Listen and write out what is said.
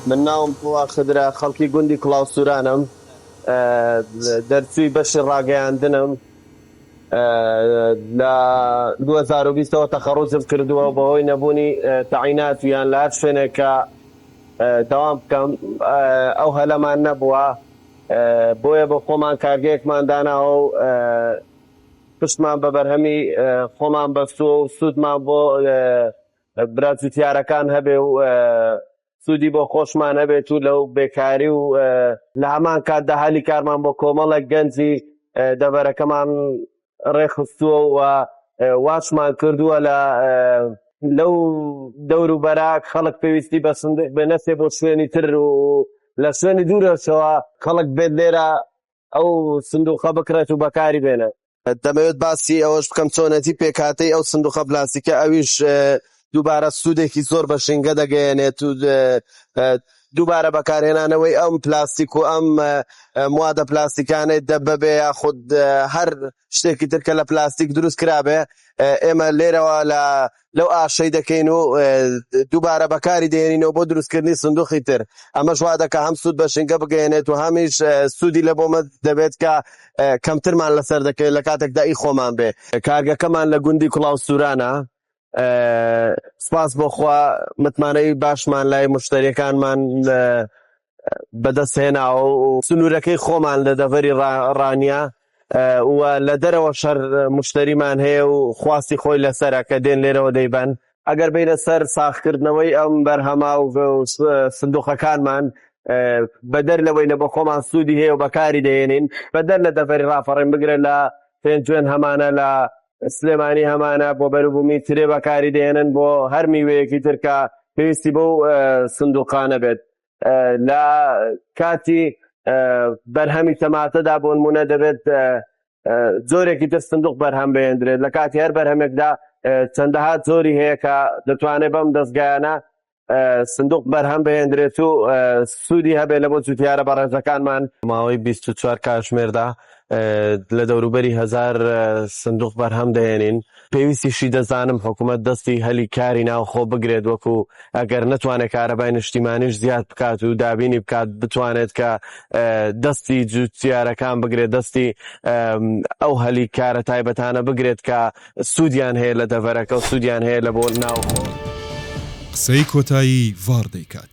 من ناوم قوڵا خدرە خەڵکی گوندی کوڵاو سورانم دەرچووی بەشی ڕاگەیاندنم لە 2020ەوە تەخەڕوجم کردووە و بەهۆی نەبوونی تەعینات یان لە هەر شوێنێک کە دەوام بکەم ئەو هەلەمان نەبووە بۆیە بۆ خۆمان کارگەیەکمان داناوە و پشتمان بە بەرهەمی خۆمان بەستووە و سوودمان بۆ برا جووتیارەکان هەبێ و سوودی بۆ خۆشمان هەبێت و لەو بێکاری و لە هەمان کاتدا هەلی کارمان بۆ کۆمەڵێک گەنجی دەڤەرەکەمان ڕێکخستووە و واشمان کردووە لە لەو دەور و بەرا خەڵک پێویستی بە سندێک بێ نەچێ بۆ شوێنی تر و لە شوێنی دوورەشەوە خەڵک بێت لێرە ئەو سندوقە بکرێت و بەکاری بێنێت. دەمەوێت باسی ئەوەش بکەم چۆنێتی پێکهاتەی ئەو سندوقە پلاستیکە ئەویش دووبارە سوودێکی زۆر بە ژینگە دەگەیەنێت و دووبارە بەکارهێنانەوەی ئەم پلاستیک و ئەم موادە پلاستیکانەی دەبەبێ یاخود هەر شتێکی ترکە لە پلاستیک دروست کرابێ ئێمە لێرەوە لە لەو ئاشەی دەکەین و دووبارە بەکاری دێنینەوە بۆ دروستکردنی سندوقی تر ئەمە شوا دەکە هەم سوود بە ژینگە بگەێنێت و هەمیش سوودی لە بۆمە دەبێت کە کەمترمان لەسەر دەکەێت لە کاتێکدا ئی خۆمان بێ کارگەکەمان لە گوندی کوڵاو سورانە سپاس بۆخوا متمانەی باشمان لای مشتریەکانمان لە بەدەست هێناوە و سنوورەکەی خۆمان لە دەڤەری ڕانیە و لە دەرەوە شەر مشتریمان هەیە و خواستی خۆی لەسرە کە دێن لێرەوە دەیبەن ئەگەر بینە سەر ساخکردنەوەی ئەم بەرهەما و سندوقەکانمان بەدەر لەوەی لە بە خۆمان سوودی هەیە و بەکاری دەێنین بەدەر لە دەڤەری ڕاپەڕێن بگرە لە پێنجوێن هەمانە لە سلێمانی هەمانە بۆ بەروبوومی ترێ بەکاری دێنن بۆ هەر میوەیەکی تر کە پێویستی بەو سندوقانە بێت لە کاتی بەرهەمی تەماتەدا بۆ نمونە دەبێت جۆرێکی تر سندوق بەرهەم بێندرێت لە کاتی هەر بەرهەمێکدا چەندەها جۆری هەیە کە دەتوانێت بەم دەستگایانە سندوق بەرهەم بهێندرێت و سوودی هەبێت لە بۆ جوتیارە بەڕێزەکانمان ماوەی 24 کاتژمێردا لە دەوروبەری هزار سندوق بەرهەم دەێنین پێویستیشی دەزانم حکوومەت دەستی هەلی کاری ناوخۆ بگرێت وەکو ئەگەر نتوانێت کارەبای نیشتیمانیش زیاد بکات و دابینی بکات بتوانێت کە دەستی جوتیارەکان بگرێت دەستی ئەو هەلی کارە تایبەتانە بگرێت کە سوودیان هەیە لە دەڤەرەکە و سوودیان هەیە لە بۆ ناوخۆ. قسەی کۆتایی ڤار دەیکات.